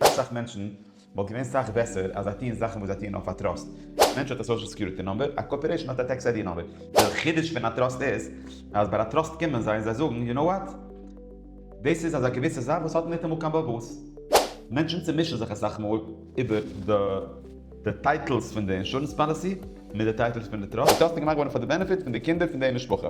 אסאך מענטשן וואלט געווען סאך בעסער אז זיי טוען זאכן וואס זיי טוען אויף א טראסט. א מענטש האט א סאושעל סעקיוריטי נומבער, א קארפארעישן האט א טעקס איידי נומבער. דער חידוש פון א טראסט איז אז ביי א טראסט קומען זיי און זיי זאגן יו נאו וואט? דאס איז אזא געוויסע זאך וואס האט ניטאמאל קיין באבעס. מענטשן צומישן זיך אסאך מאל איבער די טייטלס פון די אינשורענס פאליסי מיט די טייטלס פון די טראסט. די טראסט איז געמאכט געווארן פאר די בענעפיט פון די קינדער פון די משפחה.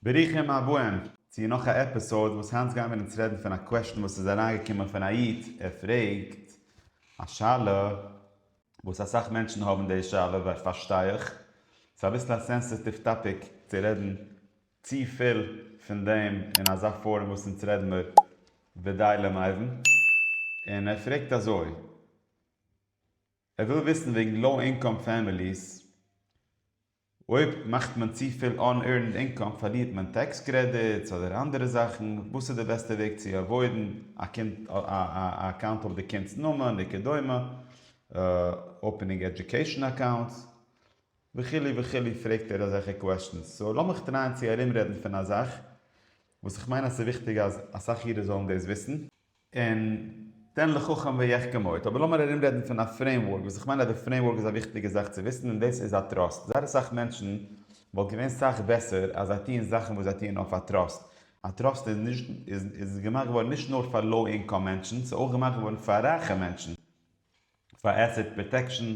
ברוכים הבאים צו נאך א עפיסאוד וואס היינט גייען מיר אונז רעדן פון א קוועשן וואס איז אריינגעקומען פון א איד ער פרעגט א שאלה וואס אסאך מענטשן האבן די שאלה פארשטיי איך ס'איז אביסל א סענסעטיוו טאפיק צו רעדן צו פיל פון דעם אין אזא פארום וואס אונז רעדן מיר ודי למאיוון, און ער פרעגט אזוי, ער וויל וויסן וועגן לאו אינקאם פעמיליס, אויב מאכט מען צו פיל אן עירנד אינקאם פארלירט מען טעקס קרעדיטס אדער אנדערע זאכן, וואס איז די בעסטע וועג צו עוואוידן א קינד א אקאונט אויף די קינדס נאמען וכדומה, אופענינג עדיוקעישאן אקאונטס, וכו' וכו' פרעגט ער אזעלכע קוועשטענס, סאו לאמיך טרייען צו ארומרעדן פון א זאך וואס איך מיין אז ס'איז וויכטיג אז אסאך אידן זאלן דאס וויסן, און תן לחכם ויחכם עוד, אבער לאמיר ארומרעדן פון א פרעימווארק וואס איך מיין אז די פרעימווארק איז א וויכטיגע זאך צו וויסן און דאס איז א טראסט, זייער אסאך מענטשן וואלט געווען סאך בעסער אז זיי טוען זאכן וואס זיי טוען אויף א טראסט, א טראסט איז נישט איז איז געמאכט געווארן נישט נאר פאר לאו אינקאם מענטשן, ס'איז אויך געמאכט געווארן פאר רייכע מענטשן. פאר עסעט פראטעקשן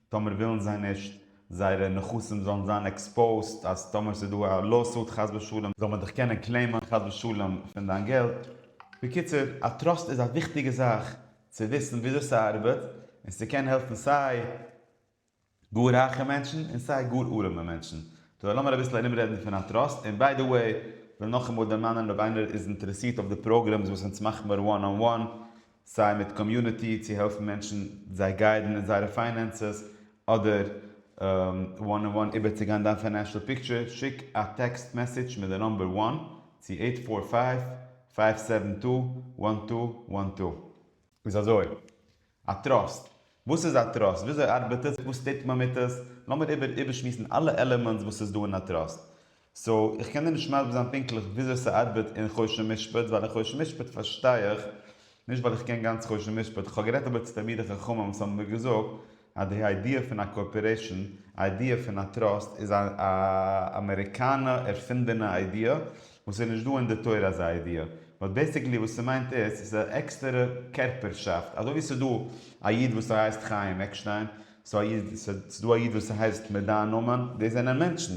טאמער ווילן זיי נישט זייערע נכסים זאלן זיין עקספאוזט אז טאמער ס'איז דא א לאוסוט חס ושלום זאל מען דיך קענען קלעימען חס ושלום פון דיין געלט, בקיצור א טראסט איז א וויכטיגע זאך צו וויסן וויאזוי ס'ארבעט און ס'קען העלפן סיי גאר רייכע מענטשן און סיי גאר ארעמע מענטשן דא לאמיר אביסל ארום רעדן פון א טראסט און ביי די וועי וויל נאכאמאל דערמאנען אויב איינער איז אינטערעסירט אויף די פראגרעמס וואס אונז מאכן מיר וואן אן וואן סיי מיט קאמיוניטי צו העלפן מענטשן זיי גיידן אין זייערע פיינענסעס אדער וואן אן וואן איבערצוגיין דיין פיינענשעל פיקטשער שיק א טעקסט מעסעדזש מיט די נומבער וואן צו עיט פאר פייוו פייוו סעווען טו וואן טו וואן טו איז אזוי. א טראסט? וואס איז א טראסט? וויאזוי ארבעט עס? וואס טוט מען מיט עס? לאמיר איבער איבערשמועסן אלע עלעמענטס וואס איז דא אין א טראסט. סאו, איך קען דיר נישט מסביר זיין פונקטליך וויאזוי ס'ארבעט אין חושן ומשפט, ווייל אין חושן ומשפט פארשטיי איך נישט ווייל איך קען גאנץ חושן ומשפט, איך האב גערעדט אבער צו תלמידי חכמים וואס האבן מיר געזאגט אז די איידיע פון א קארפארעישן, איידיע פון א טראסט איז א אמעריקאנע ערפינדענע איידיע, און ס'איז נישט דא אין די תורה אזא ידיעה, באט בעסיקלי וואס ס'מיינט איז, ס'איז א עקסטערע קערפערשאפט, אזוי ווי ס'איז דא א איד וואס ס'הייסט חיים עקשטיין, ס'איז א איד, ס'איז דא א איד וואס ס'הייסט מיט דיין נאמען, דאס זענען מענטשן,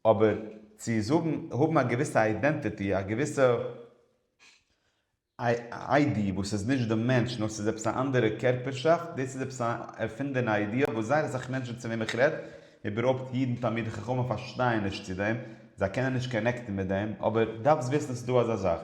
אבער צו זאגן, האבן א געוויסע איידענטיטי, א געוויסע. איידי וואס איז נישט די מענטש נאר ס'איז עפעס א אנדערע קערפערשאפט, דאס איז עפעס א ערפינדענע איידיע וואס זייער אסאך מענטשן צו וועם איך רעד, איבערהויפט אידן תלמידי חכמים פארשטייען נישט צו דעם, זיי קענען נישט קאנעקטן מיט דעם, אבער דארפסט וויסן עס איז דא אזא זאך.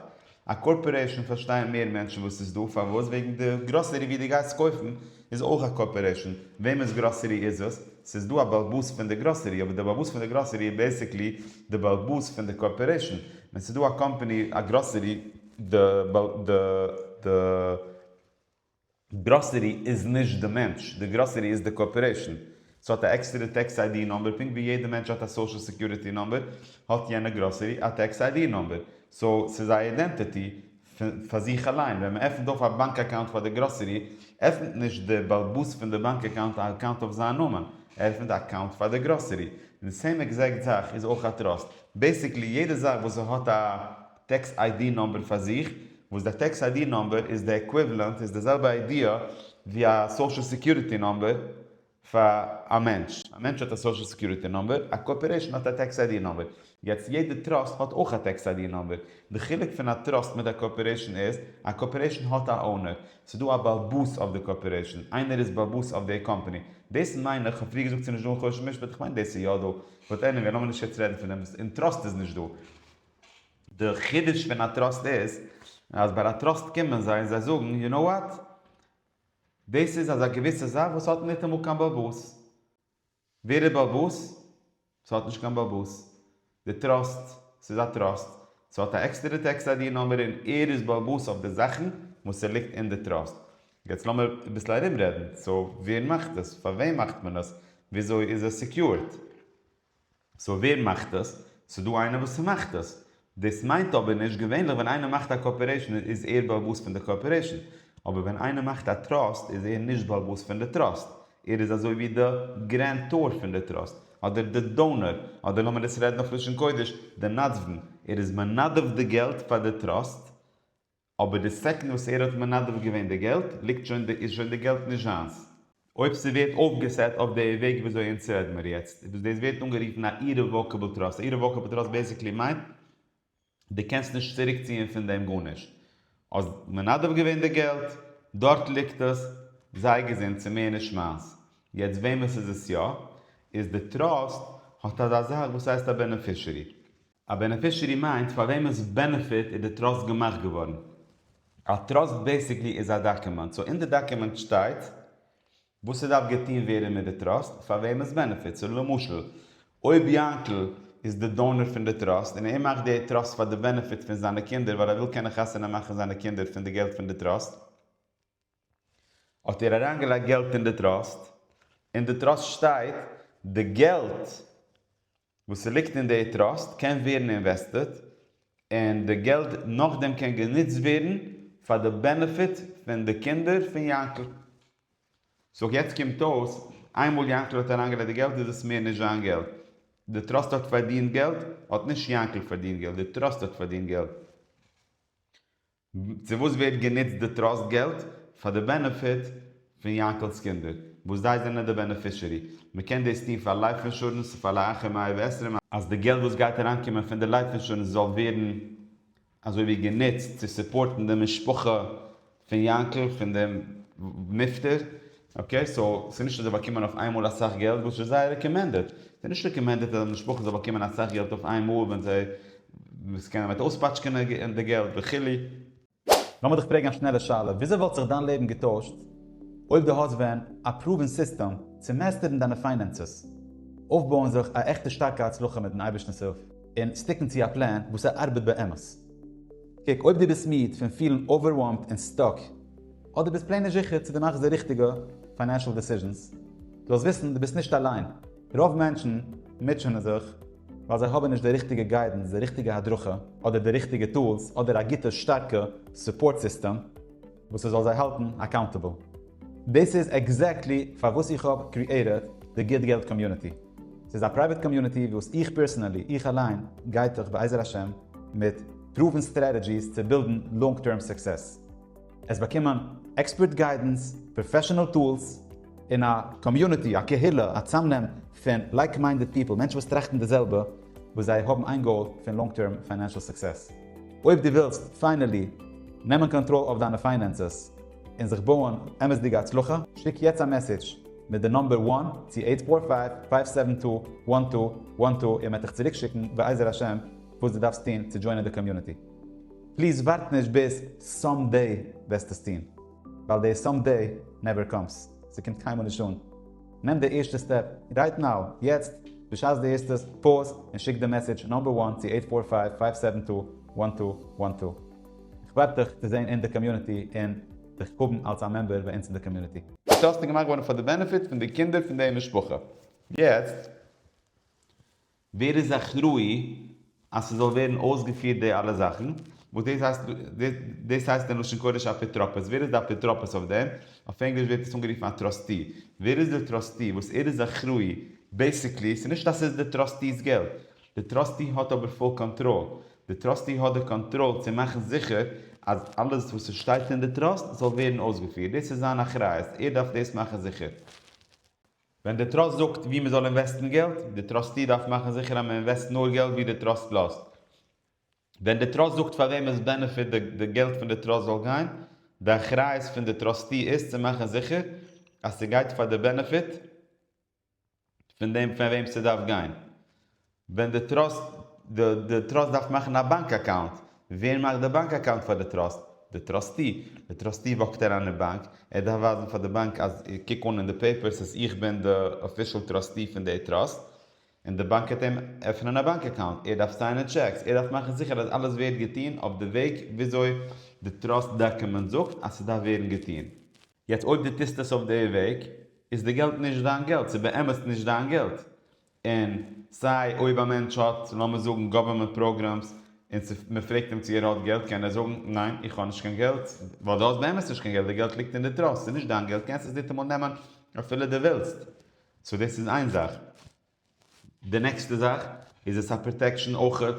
א קארפארעישאן פארשטייען מער מענטשן וואס ס'איז דא, פארוואס? וועגן די גראסערי ווי די גייסט קויפן איז אויך א קארפארעישאן, וועמענס גראסערי איז עס? ס'איז דא א בעלבאס פון די גראסערי, אבער די בעלבאס פון די גראסערי איז בעיסיקלי די בעלבאס פון די קארפארעישאן, ווען ס'איז דא א קאמפאני א גראסערי, די גראסערי איז נישט די מענטש, די גראסערי איז די קארפארעישאן, ס'האט א עקסטערע טעקס איי די נומבער, פונקט ווי יעדע מענטש האט א סאושעל סעקיוריטי נומבער, האט יענע גראסערי א טעקס איי די נומבער, סאו ס'איז א אידענטעטי פאר זיך אליין, ווען מען עפענט אויף א באנק אקאונט פאר די גראסערי, עפענט נישט די באלבאס פון די באנק אקאונט א אקאונט אויף זיין נאמען, ער עפענט א אקאונט פאר די גראסערי, די סעים עקזעקט זאך איז אויך א טראסט, בעיסיקלי יעדע זאך וואס ס'האט א. טעקס איי-די נומבער פאר זיך, וואס דער טעקס איי-די נומבער איז די עקוויוועלענט, איז די זעלבע איידיע ווי א סאושעל סעקיוריטי נומבער פאר א מענטש. א מענטש האט א סאושעל סעקיוריטי נומבער, א קארפארעישאן האט א טעקס איי-די נומבער. יעצט, יעדע טראסט האט אויך א טעקס איי-די נומבער. די חילוק פון א טראסט מיט א קארפארעישאן איז, א קארפארעישאן האט א אונער. ס'איז דא א באלבאס אויף די קארפארעישאן. איינער איז באלבאס אויף די קאמפאני. דאס מיין איך. כ'האב פריער געזאגט ס'איז נישט דא אין חושן משפט, איך מיין דאס איז יא דא. באט עניוועי, לאמיר נישט יעצט רעדן פון דעם. אין טראסט איז נישט דא. די חידוש פון א טראסט איז אז ביי א טראסט קומען זיי און זיי זאגן יו נאו וואט? דאס איז אזא געוויסע זאך וואס האט ניטאמאל קיין באבוס. ווער איז באבוס? ס'האט נישט קיין באבוס. די טראסט. ס'איז א טראסט. ס'האט א עקסטערע טעקס איידי נומער און ער איז באבוס אויף די זאכן וואס ס'ליגט אין די טראסט. יעצט לאמיר אביסל ארומרעדן. סאו ווער מאכט עס? פארוועם מאכט מען עס? וויאזוי איז עס סעקיורד? סאו ווער מאכט עס? ס'דא איינער וואס ס'מאכט עס. דאס מיינט אבער נישט, געווענליך ווען איינער מאכט א קארפארעישן איז ער בעלבאס פון די קארפארעישן, אבער ווען איינער מאכט א טראסט איז ער נישט בעלבאס פון די טראסט, ער איז אזוי ווי די גרענטאר פון די טראסט, אדער די דאונער, אדער לאמיר עס רעדן אויף לשון קודש, די נדבן, ער איז מנדב די געלט פאר די טראסט, אבער די סעקנד וואס ער האט מנדב געווען די געלט ליגט שוין איז שוין די געלט נישט זיינס. אויב ס'ווערט אויפגעסעט אויף די וועג וויאזוי אונז רעד מיר יעצט איז וואס דאס ווערט אנגערופן א אירעוואקעבל טראסט. א אירעוואקעבל טראסט בעסיקלי מיינט די קענסט נישט צוריק ציען פון דעם גארנישט. האסט מנדב געווען די געלט, דארט ליגט עס, זיי געזונט ס'מער נישט מיינס. יעצט וועמענס איז עס יא? איז די טראסט האט אזא זאך וואס הייסט א בענעפישערי. א בענעפישערי מיינט פאר וועמענס בענעפיט איז די טראסט געמאכט געווארן. א טראסט בעיסיקלי איז א דאקומענט, סאו אין די דאקומענט שטייט וואס ס'דארף געטוהן ווערן מיט די טראסט פאר וועמענס בענעפיט, סאו למשל אויב יאנקל איז די דאונער פון די טראסט און ער מאכט די טראסט פאר די בענעפיט פון זיינע קינדער ווייל ער וויל קענען חתונה מאכן זיינע קינדער פון די געלט פון די טראסט האט ער אריינגעלייגט געלט אין די טראסט, אין די טראסט שטייט די געלט וואס ס'ליגט אין די טראסט קען ווערן אינוועסטעט און די געלד נאכדעם קען גענוצט ווערן פאר די בענעפיט פון די קינדער פון יענקל. סאו יעצט קומט אויס איינמאל יענקל האט אריינגעלייגט די געלד איז עס מער נישט זיין געלד. די טראסט האט פארדינט געלד, האט נישט יענקל פארדינט געלט, די טראסט האט פארדינט געלד. צו וואס ווערט גענוצט די טראסט געלט? פאר די בענעפיט פון יענקל'ס קינדער וואס זיי זענען די בענעפישערי. מען קען דאס טון פאר לייף אינשורענס פאר לאחר מאה ועשרים. אז די געלט וואס גייט אריינקומען פון די לייף אינשורענס זאל ווערן אזוי ווי גענוצט צו סופארטן די משפחה פון יענקל פון דעם נפטר. אקעי סאו ס'איז נישט אז זיי באקומען אויף איינמאל אסאך געלט וואס איז זייער רעקאמענדעד. ס'איז נישט רעקאמענדעד אז א משפחה זאל באקומען אסאך געלט אויף איינמאל ווען זיי וואס קענען ווייט אויספאטשקענען די געלט וכו'. לאמיר דיך פרעגן א שנעלע שאלה, וויאזוי וואלט זיך דיין לעבן געטוישט אויב דו האסט ווען א פראווען סיסטעם צו מעסטערן דיינע פיינענסעס, אויפבויען זיך א עכטע שטארקע הצלחה מיטן אייבערשטנ'ס הילף, און סטיקן צו א פלאן וואס ס'ארבעט באמת? קוק, אויב דו ביסט מיד פון פילן אווערווארמד און סטאק, אדער ביסט פלעין נישט זיכער צו דו מאכסט די ריכטיגע פיינענשעל דעסיזשענס, זאלסט וויסן דו ביסט נישט אליין, רוב מענטשן מוטשענען זיך ווייל זיי האבן נישט די ריכטיגע גיידענס, די ריכטיגע הדרכה, אדער די ריכטיגע טולס, אדער א גוטע שטארקע סופארט סיסטעם וואס ס'זאל זיי האלטן אקאונטעבל. דאס איז עקזעקטלי פארוואס איך האב קריעטעד די גוט געלט קאמיוניטי. ס'איז א פרייוועט קאמיוניטי וואס איך פערסענעלי, איך אליין, גיידט דיך בעזר השם מיט פרואוון סטרעטעדזשיס צו בילדן לאנג טערם סוקסעס. עס באקומען עקספערט גיידענס, פראפעשענעל טולס, און א קאמיוניטי, א קהילה, א צאמנעם פון לייק-מיינדעד פיפל, מענטשן וואס טראכטן די זעלבע, וואס זיי האבן איין גאול פון לאנג טערם פיינענשעל סוקסעס. אויב דו ווילסט פיינעלי נעמען קאנטראל אויף דיינע פיינענסעס און זיך בויען אמת'דיגע הצלחה, שיק יעצט א מעסעדזש מיט די נומבער וואן צו אייט פאר פייוו פייוו סעווען טו וואן טו וואן טו און מען וועט דיך צוריקשיקן בעזר השם וואס דו דארפסט טון צו דזשוינען די קאמיוניטי. פליז ווארט נישט ביז סאם דעי וועסט עס טון, ווייל די סאם דעי נעווער קאמס, ס'קומט קיינמאל נישט אן, נעם די ערשטע סטעפ רייט נאו, יעצט, בשעת דו הערסט עס, פאוז און שיק די מעסעדזש נאמבער וואן צו עיט פאר פייוו פייוו סעווען טו וואן טו וואן טו. איך ווארט דיך צו זען אין די קאמיוניטי און דיך האבן אלס א מעמבער ביי אונז אין די קאמיוניטי. די טאסק איז געמאכט געווארן פאר די בענעפיט פון די קינדער פון די משפחה. יעצט. ווער איז אחראי אז ס'זאל ווערן אויסגעפירט די אלע זאכן, וואס דאס הייסט, דאס הייסט אין לשון קודש אפיטרופוס, ווער איז די אפיטרופוס אויף דעם, אויף ענגליש ווערט עס אנגערופן א טראסטי, ווער איז די טראסטי וואס ער איז אחראי, בעיסיקלי ס'איז נישט אז ס'איז די טראסטי'ס געלט, די טראסטי האט אבער פול קאנטראל, די טראסטי האט די קאנטראל צו מאכן זיכער אז אלעס וואס ס'שטייט אין די טראסט זאל ווערן אויסגעפירט, דאס איז זיין אחריות, ער דארף דאס מאכן זיכער. ווען די טראסט זאגט וואו מען זאל אינוועסטן געלט, די טראסטי דארף מאכן זיכער אז מען אינוועסט נאר געלט וואו די טראסט לאזט. ווען די טראסט זאגט פאר וועם עס בענעפיט די געלט פון די טראסט זאל גיין, די אחריות פון די טראסטי איז צו מאכן זיכער אז ס'גייט פאר די בענעפיט פון דעם פאר וועם ס'דארף גיין. ווען די טראסט די טראסט דארף מאכן א באנק אקאונט, ווער מאכט די באנק אקאונט פאר די טראסט? די טראסטי. די טראסטי וואקט אריין אין באנק, ער דארף ווייזן פאר די באנק אז קוק אן אין די פעיפערס אז איך בין די אפישעל טראסטי פון די טראסט, און די באנק וועט אים עפענען א באנק אקאונט, ער דארף סיינען טשעקס, ער דארף מאכן זיכער אז אלעס ווערט געטון אויף די וועג וויאזוי די טראסט דאקומענט זאגט אז ס'דארף ווערן געטון. יעצט אויב די טוסט עס אויף די וועג, איז די געלט נישט דיין געלט, ס'איז באמת נישט דיין געלט, און סיי אויב א מענטש האט לאמיר זאגן גאווערמענט פראגרעמס און מען פרעגט אים צו ער האט געלט קען ער זאגן ניין איך האב נישט קיין געלט ווייל דו האסט באמת נישט קיין געלט די געלט ליגט אין די טראסט ס'נישט דיין געלט קענסט עס ניטעמאל נעמען אפילו די ווילסט סאו דאס איז איין זאך די נעקסטע זאך איז עס א פראטעקשען אויכעט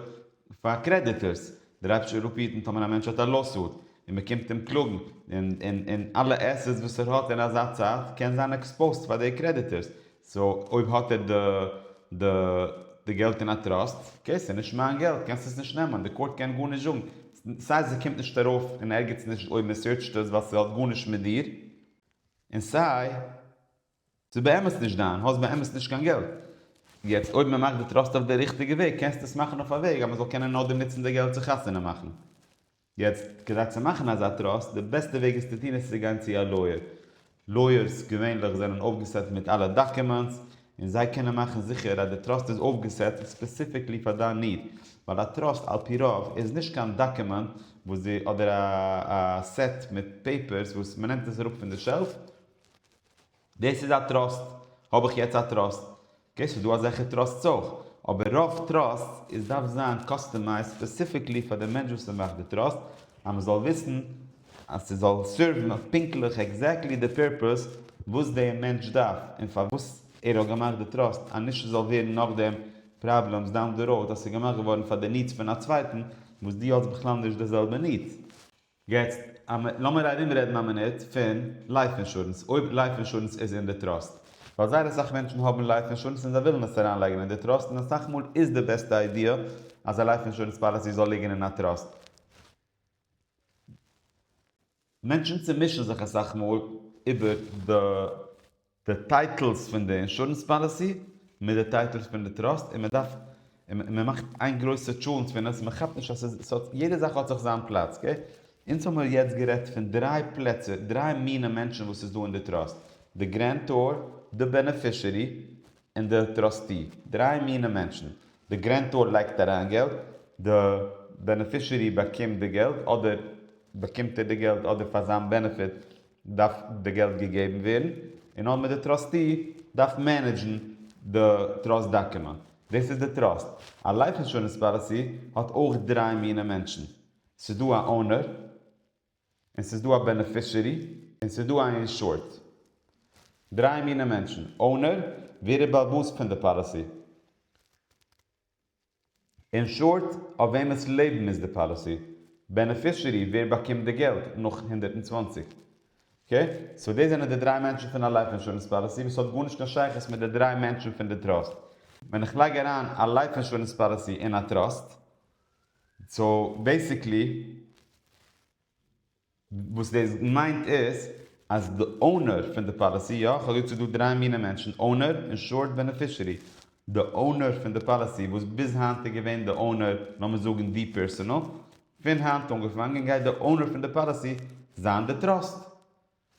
פאר קרעדיטערס דער אייבישטער וועט אפהיטן טאמער א מענטש האט א לאוסוט און מען קומט אים קלאגן און אלע עסעטס וואס ער האט אין אזא צייט קען זיין עקספאוזט פאר די קרעדיטערס סאו אויב האט ער די די די געלט אין א טראסט אקעי סאיז נישט מיין געלט קענסט עס נישט נעמען די קאורט קען גארנישט זאגן סיי זי קומט נישט ארויף אין ערגעץ נישט אויב מען סערטשט עס ווייל סהאט גארנישט מיט דיר אין סיי סאיז באמת נישט דיין האסט באמת נישט קיין געלט יעצט אויב מען מאכט די טראסט אויף די ריכטיגע וועג קענסט עס מאכן אויף א וועג אז מען זאל קענען נאכדעם ניצן די געלט צו חתונה מאכן. יעצט כדי צו מאכן אזא טראסט, די בעסטע וועג עס צו טון איז צו גיין צו א לויער. לויערס געווענליך זענען אויפגעסעט מיט אלע דאקומענטס, און זיי קענען מאכן זיכער אז די טראסט איז אויפגעסעט ספעסיפיקלי פאר דיין ניד, ווייל א טראסט על פי רוב איז נישט קיין דאקומענט וואס די אדער א סעט מיט פעיפערס וואס מ'נעמט עס אראפ פון די שעלף, דאס איז א טראסט, האב איך יעצט א טראסט, אקעי ס'איז דא אזעלכע טראסטס אויך, אבער רוב טראסטס איז דארף זיין קאסטומייזד ספעסיפיקלי פאר די מענטש וואס ער מאכט די טראסט, אז מען זאל וויסן אז ס'זאל סערוון פונקטליך עקזעקטלי די פערפעס וואס דער מענטש דארף און פארוואס ער האט געמאכט די טראסט, אז נישט ס'זאל ווערן נאכדעם פראבלעמס דאון דע ראוד אז ס'איז געמאכט געווארן פאר די נידס פון א צווייטן וואס דו האסט בכלל נישט די זעלבע נידס. יעצט לאמיר ארום רעדן א מינוט פון לייף אינשורענס, אויב לייף אינשורענס איז אין די טראסט, ווייל זייער אסאך מענטשן האבן לייף אינשורענס און זיי ווילן עס אריין לייגן אין די טראסט און אסאך מאל איז די בעסטע איידיע אז א לייף אינשורענס פאליסי זאל ליגן אין א טראסט, מענטשן צומישן זיך אסאך מאל איבער די. די טייטלס פון די אינשורענס פאליסי מיט די טייטלס פון די טראסט און מען דארף און מען מאכט איין גרויסע טשולנט פון עס מען כאפט נישט אז עס האט יעדע זאך האט זיך זיין פלאץ אקעי אונז האמיר יעצט גערעדט פון דריי פלעצער דריי מיני מענטשן וואס איז דא אין די טראסט די גרענטאר די בענעפישערי און די טראסטי דריי מיני מענטשן די גרענטאר לייגט אריין געלט די בענעפישערי באקומט די געלט אדער באקומט ער די געלט אדער פאר זיין בענעפיט דארף די געלט געגעבן ווערן און אדמור די טראסטי דארף מענעדזשן די טראסט דאקומענט. דאס איז די טראסט. א לייף אינשורענס פאליסי האט אויך דריי מיני מענטשן. ס'איז דא א אונער, און ס'איז דא א בענעפישערי, און ס'איז דא א אינשורד. דריי מיני מענטשן. אונער, ווער איז בעל בית פון די פאליסי? אין שארט, אויף וועמענס לעבן איז די פאליסי בענעפישערי, ווער באקומט די געלט נאך הונדערט און צוואַנציק? אקעי, סאו דאס זענען די דריי מענטשן פון א לייף אינשורענס פאליסי וואס האט גארנישט קיין שייכות מיט די דריי מענטשן פון די טראסט. ווען איך לייג אריין א לייף אינשורענס פאליסי אין א טראסט, סאו בעסיקלי, וואס דאס מיינט איז אז די אונער פון די פאליסי, יא, כ'האב געזאגט ס'איז דא דריי מינע מענטשן, אונער, אינשורד, בענעפישערי. די אונער פון די פאליסי וואס ביז היינט איז געווען די אונער, לאמיר זאגן די פערסאנעל, פון היינט אנגעפאנגען גייט די אונער פון די פאליסי זיין די טראסט.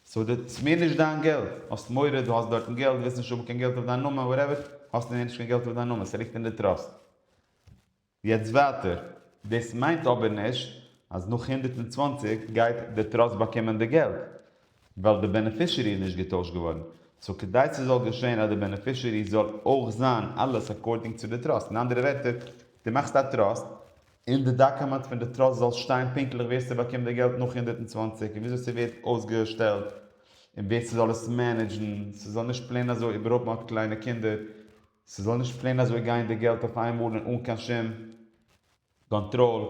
סאו די ס'איז מער נישט דיין געלט. האסט מורא דו האסט דארטן געלט, ווילסט נישט האבן קיין געלט אויף דיין נאמען, וואטעווער, האסטו מער נישט קיין געלט אויף דיין נאמען, ס'ליגט אין די טראסט. יעצט ווייטער, דאס מיינט אבער נישט אז נאך הונדערט און צוואַנציק גייט די טראסט באקומען די געלט, ווייל די בענעפישערי איז נישט געטוישט געווארן, סאו כדי ס'זאל געשען אז די בענעפישערי זאל אויך זיין אלעס אקארדינג צו די טראסט, אין אנדערע ווערטער, דו מאכסט א טראסט, און די דאקומענט פון די טראסט זאל שטיין פונקטליך ווער ס'באקומט די געלט נאך הונדערט און צוואַנציק און וויאזוי ס'ווערט אויסגעשטעלט און ווער ס'זאל עס מענעדזשן, ס'זאל נישט פלעין אזוי איבערהאפן אט קליינע קינדער. ס'זאל נישט פלעין אזוי גיין די געלט אויף איין מאל און אן קיין שום קאנטראל,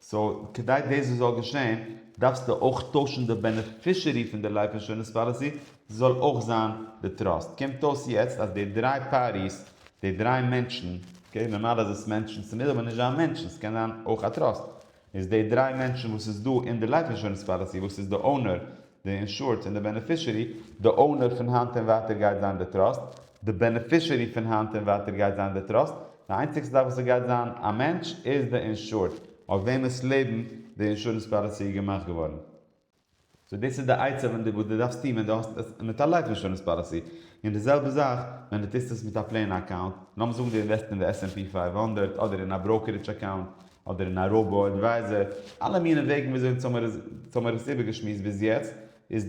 סאו כדי דאס זאל געשען דארפסטו אויך טוישן די בענעפישערי פון די לייף אינשורענס פאליסי, ס'זאל אויך זיין די טראסט. קומט אויס יעצט אז די דריי פארטיס, די דריי מענטשן, אקעי נארמאל איז עס מענטשן, ס'מוז אבער נישט זיין מענטשן, ס'קען זיין אויך א טראסט, איז די דריי מענטשן וואס איז דא אין די לייף אינשורענס פאליסי וואס איז די אונער, די אינשורד און די בענעפישערי, די אונער פון היינט און ווייטער גייט זיין די טראסט, די בענעפישערי פון היינט און ווייטער גייט זיין די טראסט, די איינציגסטע זאך וואס עס גייט זיין א מענטש איז די אינשורד אויף וועמענס לעבן די אינשורענס פאליסי איז געמאכט געווארן. סאו דאס איז די עצה ווען דו וואס דו דארפסט טון ווען דו האסט עס מיט א לייף אינשורענס פאליסי, און די זעלבע זאך ווען דו טוסט עס מיט א פלעין אקאונט, לאמיר זאגן דו אינוועסט אין די עס ענד פי פֿינף הונדערט אדער אין א בראוקערידזש אקאונט אדער אין א ראובא עדווייזער, אלע מיני וועגן וויאזוי אונז האמיר עס איבערגעשמועסט ביז יעצט, איז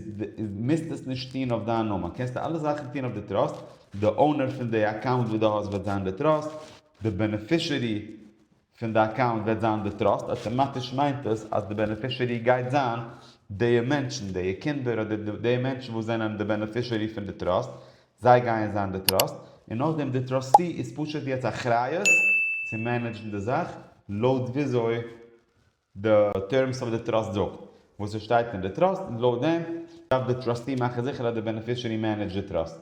מוזט עס נישט טון אויף דיין נאמען, קענסטו אלע זאכן טון אויף די טראסט, די אונער פון די אקאונט וואס דו האסט וועט זיין די טראסט, די בענעפישערי פון די אקאונט וועט זיין די טראסט, אטאמאטיש מיינט עס אז די בענעפישערי גייט זיין די מענטשן, די קינדער אדער די מענטשן וואס זענען די בענעפישערי פון די טראסט, זיי גייען זיין די טראסט, און נאכדעם די טראסטי איז פשוט יעצט אחריות צו מענעדזשן די זאך לויט וויאזוי די טערמס אוו די טראסט זאגט וואס עס שטייט אין די טראסט און לויט דעם דארף די טראסטי מאכן זיכער אז די בענעפישערי מענעדזשט די טראסט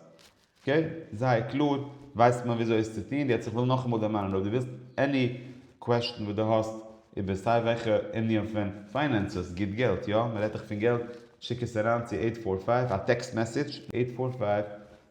אקעי זייער קלאר ווייסט מען וויאזוי עס צו טון יעצט איך וויל נאכאמאל דערמאנען אויב די ווילסט עני קוועשטן וואס די האסט איבער סיי וועלכע ענין פון פיינענסעס גיט געלט יא מען רעדט דאך פון געלט שיק עס אריין צו אייט פאר פייוו א טעקסט מעסעדזש אייט פאר פייוו